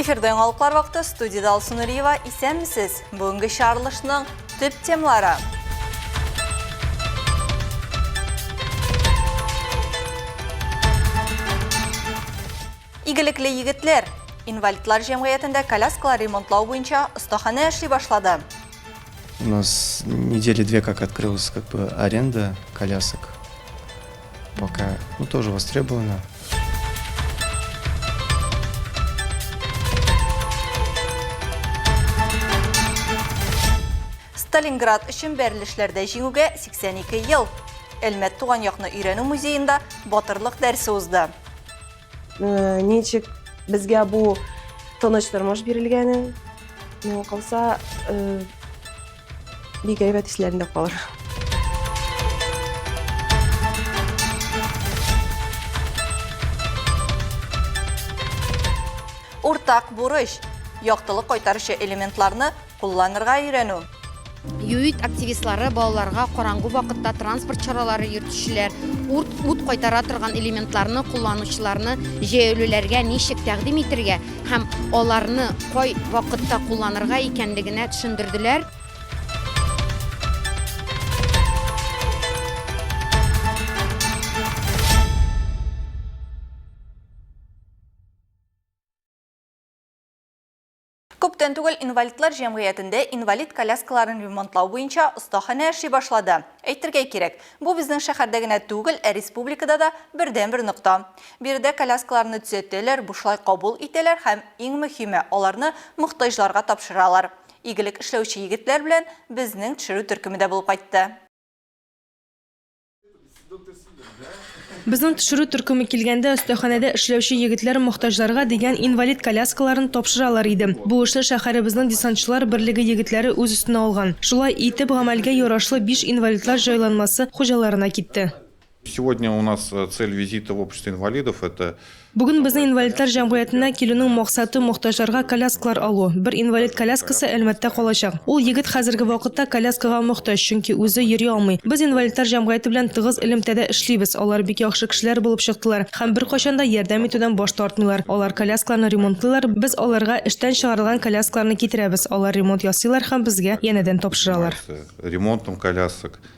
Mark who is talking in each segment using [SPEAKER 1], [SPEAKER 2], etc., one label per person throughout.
[SPEAKER 1] Эфирдә яңалыклар вакыты студияда Алсу Нуриева. Исәнмесез! Бүгенге чарылышның төп темалары. Игелекле егетләр! Инвалидлар җәмгыятендә коляскалар ремонтлау буенча остаханә эшли башлады. У
[SPEAKER 2] нас недели две как открылась как бы аренда колясок. Пока, ну, тоже востребовано.
[SPEAKER 1] Сталинград өчен бәрелешләрдә җиңүгә 82 ел. Әлмәт туган якны өйрәнү музеенда батырлык дәрсе узды. Э,
[SPEAKER 3] ничек безгә бу тыныч тормыш бирелгәне миңа калса э, бик әйбәт исләрендә калыр
[SPEAKER 1] Уртак бурыч яктылык кайтаручы элементларны Кулланырга өйрәнү. ЮИД
[SPEAKER 4] активистлары балаларга караңгы вакытта транспорт чаралары йөртүчеләр, урт, ут кайтара торган элементларны кулланучыларны җәяүлеләргә ничек тәкъдим итергә һәм аларны кай вакытта кулланырга икәнлегенә төшендерделәр.
[SPEAKER 1] Күптән түгел инвалидлар җәмгыятендә инвалид коляскаларын ремонтлау буенча остаханә эшли башлады. Әйтергә кирәк, бу безнең шәһәрдә генә түгел, ә республикада да бердәнбер нокта. Биредә коляскаларны төзәтәләр, бушлай кабул итәләр һәм, иң мөһиме, аларны мохтаҗларга тапшыралар. Игелек эшләүче егетләр белән безнең төшерү төркеме дә булып кайтты.
[SPEAKER 5] Безнең төшерү төркеме килгәндә, өстәханәдә эшләүче егетләр мохтаҗларга дигән инвалид коляскаларын тапшыралар иде. Бу эшне шәһәребезнең десантчылар берлеге егетләре үз өстенә алган. Шулай и теп, гамәлгә ярашлы биш инвалидлар җайланмасы хуҗаларына китте. Сегодня у
[SPEAKER 6] нас э, цель визита в общество инвалидов это Бүген безнең инвалидлар
[SPEAKER 5] җәмгыятенә килүнең максаты, мохтаҗларга коляскалар алу. Бер инвалид коляскасы Әлмәттә калачак. Ул егет хәзерге вакытта коляскага мохтаҗ, чөнки үзе йөри алмый. Без инвалидлар җәмгыяте белән тыгыз элемтәдә эшлибез. Алар бик яхшы кешеләр булып чыктылар һәм беркайчан да ярдәм итүдән баш тартмыйлар. Алар коляскаларны ремонтлыйлар, без аларга эштән чыгарылган коляскаларны китерәбез, алар ремонт ясыйлар һәм безгә янәдән тапшыралар. Ремонтом
[SPEAKER 6] колясок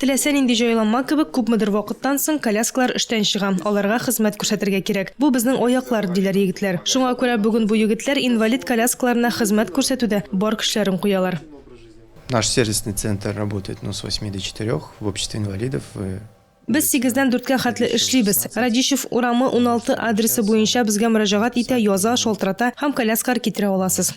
[SPEAKER 5] Теләсә нинди җайланма кебек, күпмедер вакыттан соң коляскалар эштән чыга, аларга хезмәт күрсәтергә кирәк. Бу безнең аяклар, диләр егетләр. Шуңа күрә бүген бу егетләр инвалид коляскаларына хезмәт күрсәтүдә бар көчләрен куялар. Наш
[SPEAKER 2] сервисный центр работает ну с восьми до четырех в обществе инвалидов вы. Без
[SPEAKER 5] сигездән дүрткә хәтле эшлибез. Радищев урамы, уналты адресы буенча безгә мөрәҗәгать итә, яза, шалтырата һәм коляскалар китерә аласыз.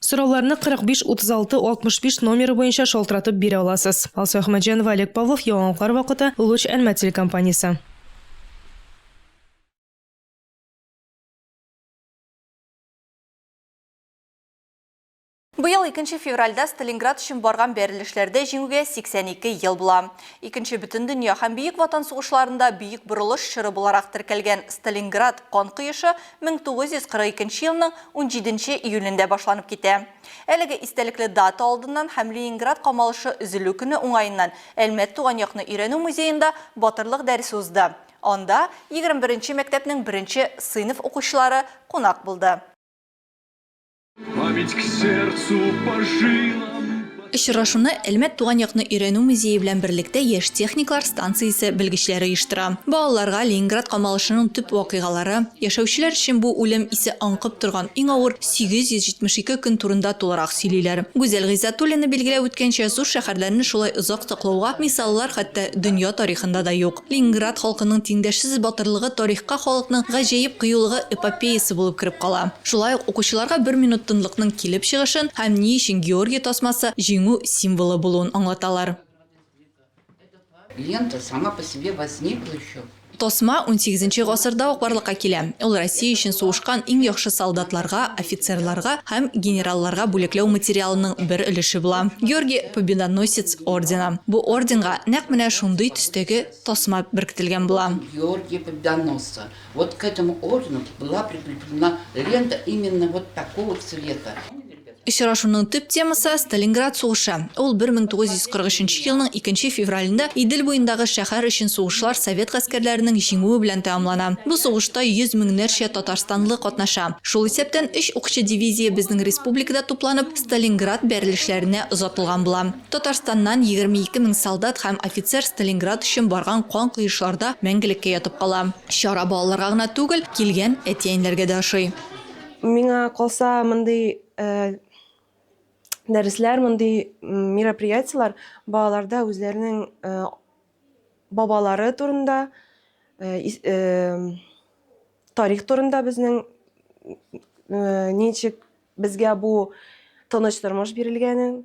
[SPEAKER 2] Сорауларны
[SPEAKER 5] 45 36 65 номеры буенча шалтыратып бирә аласыз. Алсу Әхмәтҗанова, Олег Павлов, Яңалыклар вакыты, Луч Әлмәт телекомпаниясе.
[SPEAKER 1] Быел 2 февральдә Сталинград өчен барган бәрелешләрдә җиңүгә 82 ел була. Икенче бөтен дөнья һәм Бөек Ватан сугышларында бөек борылыш чоры буларак теркәлгән Сталинград кан коешы 1942 елның 17 нче июлендә башланып китә. Әлеге истәлекле дата алдыннан һәм Ленинград камалышы өзелү көне уңаеннан Әлмәт туган якны өйрәнү музеенда Батырлык дәресе узды. Анда 21 нче мәктәпнең беренче сыйныф укучылары кунак булды. Очрашуны Әлмәт туган якны өйрәнү музее белән берлектә Яшь техниклар станциясе белгечләре оештыра. Балаларга Ленинград камалышының төп вакыйгалары, яшәүчеләр өчен бу үлем исе аңкып торган иң авыр 872 көн турында тулырак сөйлиләр. Гүзәл Гыйззатуллина билгеләп үткәнчә, зур шәһәрләрне шулай озак саклауга мисаллар хәтта дөнья тарихында да юк. Ленинград халкының тиңдәшсез батырлыгы тарихка халыкның гаҗәеп кыюлыгы эпопеясы булып кереп кала. Шулай ук укучыларга бер минут тынлыкның килеп чыгышын һәм ни өчен Георгий тасмасы җиңү символы булуын аңлаталар. Лента сама
[SPEAKER 7] по себе возникла еще. Тасма унсигезенче
[SPEAKER 1] гасырда ук барлыкка килә. Ул Россия өчен сугышкан иң яхшы солдатларга, офицерларга һәм генералларга бүләкләү материалының бер өлеше була. Георгий Победоносец ордены. Бу орденга нәкъ менә шундый төстәге тасма беркетелгән була. Орден Георгия Победоносца.
[SPEAKER 7] Вот к этому ордену была прикреплена лента именно вот такого цвета. Очрашуның
[SPEAKER 1] төп темасы, Сталинград сугышы. Ул 1943 елның икенче февралендә Идел буендагы шәһәр өчен сугышлар совет гаскәрләренең җиңүе белән тәмамлана. Бу сугышта йөз меңнәрчә татарстанлы катнаша. Шул исәптән өч укчы дивизия безнең республикада тупланып, Сталинград бәрелешләренә озатылган була. Татарстаннан егерме ике мең солдат һәм офицер Сталинград өчен барган кан коешларда мәңгелеккә ятып кала. Чара балаларга гына түгел, килгән әти-әниләргә дә ошый. Миңа
[SPEAKER 3] калса, мондый дәресләр, мондый мероприятиеләр балаларда үзләренең бабалары турында, тарих турында безнең ничек безгә бу тыныч тормыш бирелгәнен,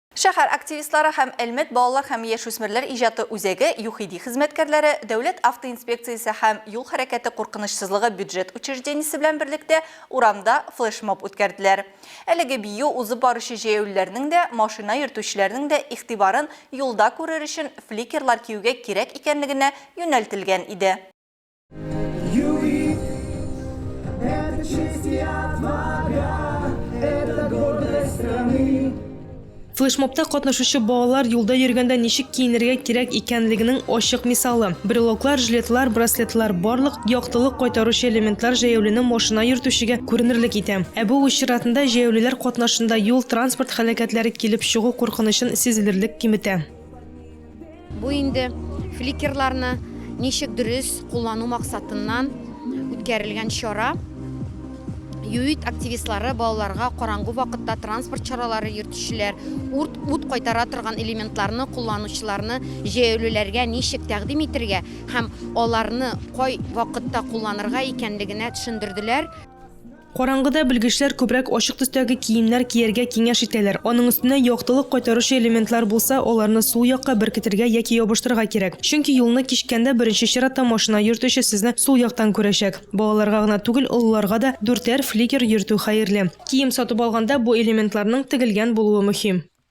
[SPEAKER 1] Шәһәр активистлары һәм Әлмәт балалар һәм яшүсмерләр иҗаты үзәге ЮХИДИ хезмәткәрләре Дәүләт автоинспекциясе һәм Юл хәрәкәте куркынычсызлыгы бюджет учреждениесе белән берлектә урамда флешмоб үткәрделәр. Әлеге бию узып баручы җәяүлеләрнең дә, машина йөртүчеләрнең дә игътибарын юлда күрер өчен фликерлар киюгә кирәк икәнлегенә юнәлтелгән иде.
[SPEAKER 5] Флешмобта катнашучы балалар юлда йөргәндә ничек киенергә кирәк икәнлегенең ачык мисалы. Брелоклар, жилетлар, браслетлар барлык яктылык кайтаручы элементлар җәяүлене машина йөртүчегә күренерлек итә. Ә бу үз чиратында җәяүлеләр катнашында юл-транспорт һәлакәтләре килеп чыгу куркынычын сизелерлек киметә.
[SPEAKER 4] Бу инде фликерларны ничек дөрес куллану максатыннан үткәрелгән чара. ЮИД активистлары балаларга караңгы вакытта транспорт чаралары йөртүчеләр, урт ут кайтара торган элементларны кулланучыларны җәяүлеләргә ничек тәкъдим итергә һәм аларны кай вакытта кулланырга икәнлегенә төшендерделәр. Караңгыда
[SPEAKER 5] белгечләр күбрәк ачык төстәге киемнәр кияргә киңәш итәләр. Аның өстенә яктылык кайтаручы элементлар булса, аларны сул якка беркетергә яки ябыштырырга кирәк. Чөнки юлны кичкәндә беренче чиратта машина йөртүче сезне сул яктан күрәчәк. Балаларга гына түгел, олыларга да дүртәр фликер йөртү хәерле. Кием сатып алганда бу элементларның тегелгән булуы мөһим.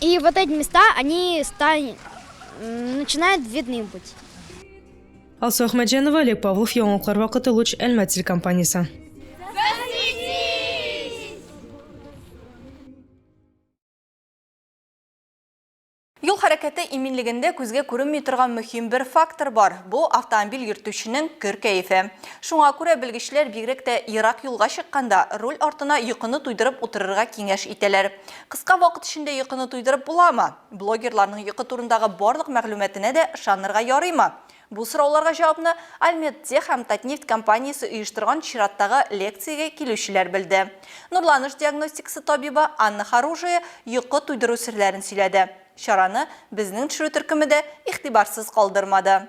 [SPEAKER 8] И вот эти места, они стань, начинают видны быть.
[SPEAKER 5] Алсу Ахмаджанова, Олег Павлов, Яңалыклар вакыты Луч Әлмәт телекомпаниясе.
[SPEAKER 1] Юл хәрәкәте иминлегендә күзгә күренми торган мөһим бер фактор бар. Бу автомобиль йөртүченең көр кәефе. Шуңа күрә белгечләр бигрәк тә ерак юлга чыкканда руль артына йокыны туйдырып утырырга киңәш итәләр. Кыска вакыт эчендә йокыны туйдырып буламы? Блогерларның йокы турындагы барлык мәгълүматына да ышанырга ярыймы? Бу сорауларга җавапны Альмедтех һәм Татнефть компаниясе оештырган чираттагы лекциягә килүчеләр белде. Нурланыш диагностикасы табибы Анна Хоружая йокы туйдыру серләрен сөйләде. Чараны Безнең төшерү төркеме дә игътибарсыз калдырмады.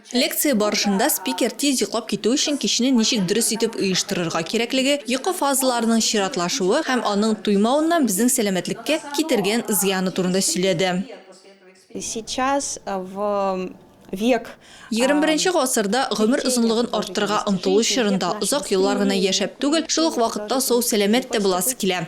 [SPEAKER 9] Лекция
[SPEAKER 1] барышында спикер тиз йоклап китү өчен кичне ничек дөрес итеп оештырырга кирәклеге, йокы фазаларының чиратлашуы һәм аның туймавыннан безнең сәламәтлеккә китергән зыяны турында сөйләде.
[SPEAKER 3] Сейчас в век. Егерме беренче
[SPEAKER 1] гасырда гомер озынлыгын арттырырга омтылу чорында озак еллар гына яшәп түгел, шул ук вакытта сау-сәламәт тә буласы килә.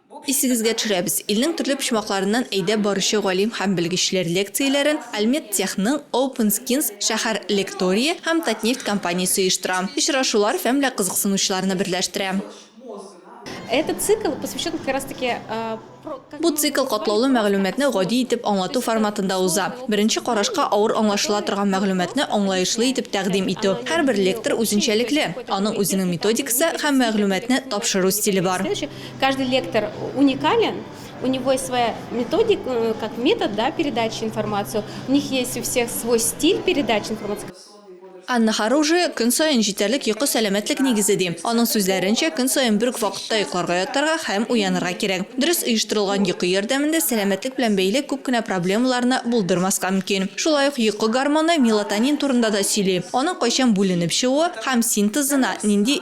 [SPEAKER 1] Исегезгә төшерәбез, илнең төрле почмакларыннан әйдәп баручы галим һәм белгечләр лекцияләрен Альмедтехның Open Skins шәһәр лекторие һәм Татнефть компаниясе оештыра. Очрашулар фәмлә кызыксынучыларны берләштерә. Этот
[SPEAKER 5] цикл посвящен как раз таки про. Бу
[SPEAKER 1] цикл катлаулы мәгълүматны гади итеп аңлату форматында уза. Беренче карашка авыр аңлашыла торган мәгълүматны аңлаешлы итеп тәкъдим итү. Һәрбер лектор үзенчәлекле, аның үзенең методикасы һәм мәгълүматны тапшыру стиле бар. Каждый лектор
[SPEAKER 5] уникален, у него есть своя методик, э, как метод, да, передачи информацию. У них есть у всех свой стиль передачи информации. Анна
[SPEAKER 1] Харужи көн саен җитәрлек йокы сәламәтлек нигезе ди. Аның сүзләренчә, көн саен бер үк вакытта йокларга ятарга һәм уянырга кирәк. Дөрес оештырылган йокы ярдәмендә сәламәтлек белән бәйле күп кенә проблемаларны булдырмаска мөмкин. Шулай ук йокы гормоны мелатонин турында да сөйли, аның кайчан бүленеп чыгуы һәм синтезына нинди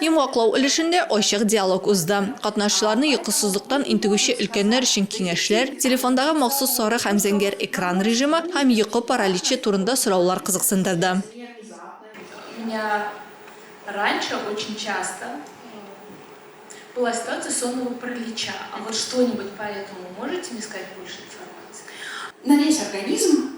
[SPEAKER 1] Йомгаклау өлешендә ачык диалог узды. Катнашчыларны йокысызлыктан интегүче өлкәннәр өчен киңәшләр, телефондагы махсус сары һәм зәңгәр экран режимы һәм йокы параличы турында сораулар кызыксындырды.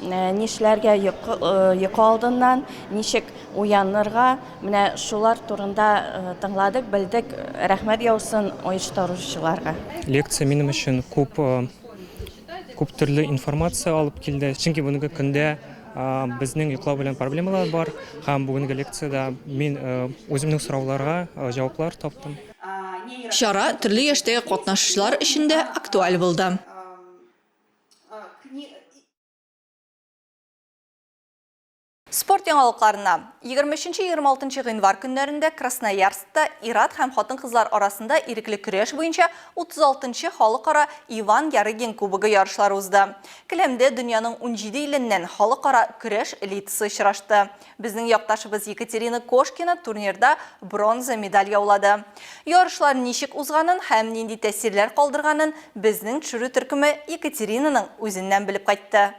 [SPEAKER 10] Нишләргә йокы алдыннан, ничек уянырга, менә шулар турында тыңладык, белдек. Рәхмәт яусын оештыручыларга. Лекция минем
[SPEAKER 11] өчен күп, күп төрле информация алып килде. Чөнки бүгенге көндә безнең йоклау белән проблемалар бар. Һәм бүгенге лекциядә мин үземнең сорауларга җаваплар таптым. Чара
[SPEAKER 1] төрле яшьтәге катнашучылар өчен дә актуаль булды. Спорт яңалыкларына. Егерме өченче-егерме алтынчы гыйнвар көннәрендә Красноярскта ир-ат һәм хатын-кызлар арасында ирекле көрәш буенча утыз алтынчы халыкара Иван Ярыгин кубогы ярышлары узды. Келәмдә дөньяның унҗиде иленнән халыкара көрәш элитасы очрашты. Безнең якташыбыз Екатерина Кошкина турнирда бронза медаль яулады. Ярышлар ничек узганын һәм нинди тәэсирләр калдырганын безнең төшерү төркеме Екатеринаның үзеннән белеп кайтты.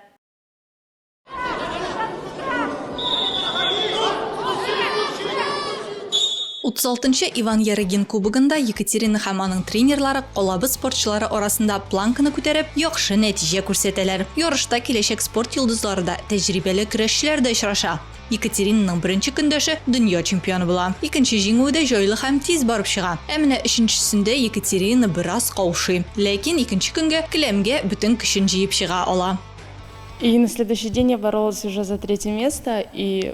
[SPEAKER 1] 36 нчы Иван Ярыгин кубогында Екатерина һәм аның тренерлары калабыз спортчылары арасында планканы күтәреп, яхшы нәтиҗә күрсәтәләр. Ярышта киләчәк спорт йолдызлары да, тәҗрибәле көрәшчеләр дә очраша. Екатеринаның беренче көндәше дөнья чемпионы була. Икенче җиңүе дә җайлы һәм тиз барып чыга. Ә менә өченчесендә Екатерина бераз каушый. Ләкин икенче көнгә келәмгә бөтен көчен җыеп чыга ала. И на
[SPEAKER 12] следующий день я боролась уже за третье место и.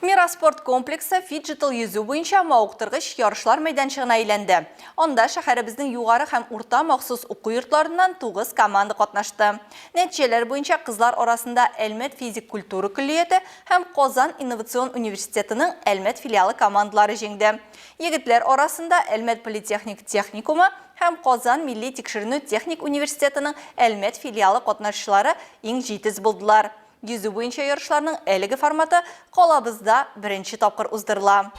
[SPEAKER 1] Мира спорт комплексы фиджитал йөзү буенча мавыктыргыч ярышлар мәйданчыгына әйләнде. Анда шәһәребезнең югары һәм урта махсус уку йортларыннан 9 команда катнашты. Нәтиҗәләр буенча кызлар арасында Әлмәт физик культура көллияте һәм Казан инновацион университетының Әлмәт филиалы командалары җиңде. Егетләр арасында Әлмәт политехник техникумы һәм Казан милли тикшеренү техник университетының Әлмәт филиалы катнашчылары иң җитез булдылар. Йөзү буенча ярышларның әлеге форматы калабызда беренче тапкыр уздырыла.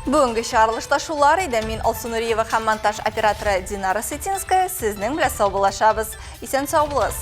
[SPEAKER 1] Бүгенге чыгарылышта шулар иде. Мин Алсу Нуриева һәм монтаж операторы Динара Сытинская сезнең белән саубуллашабыз. Исән сау булыгыз!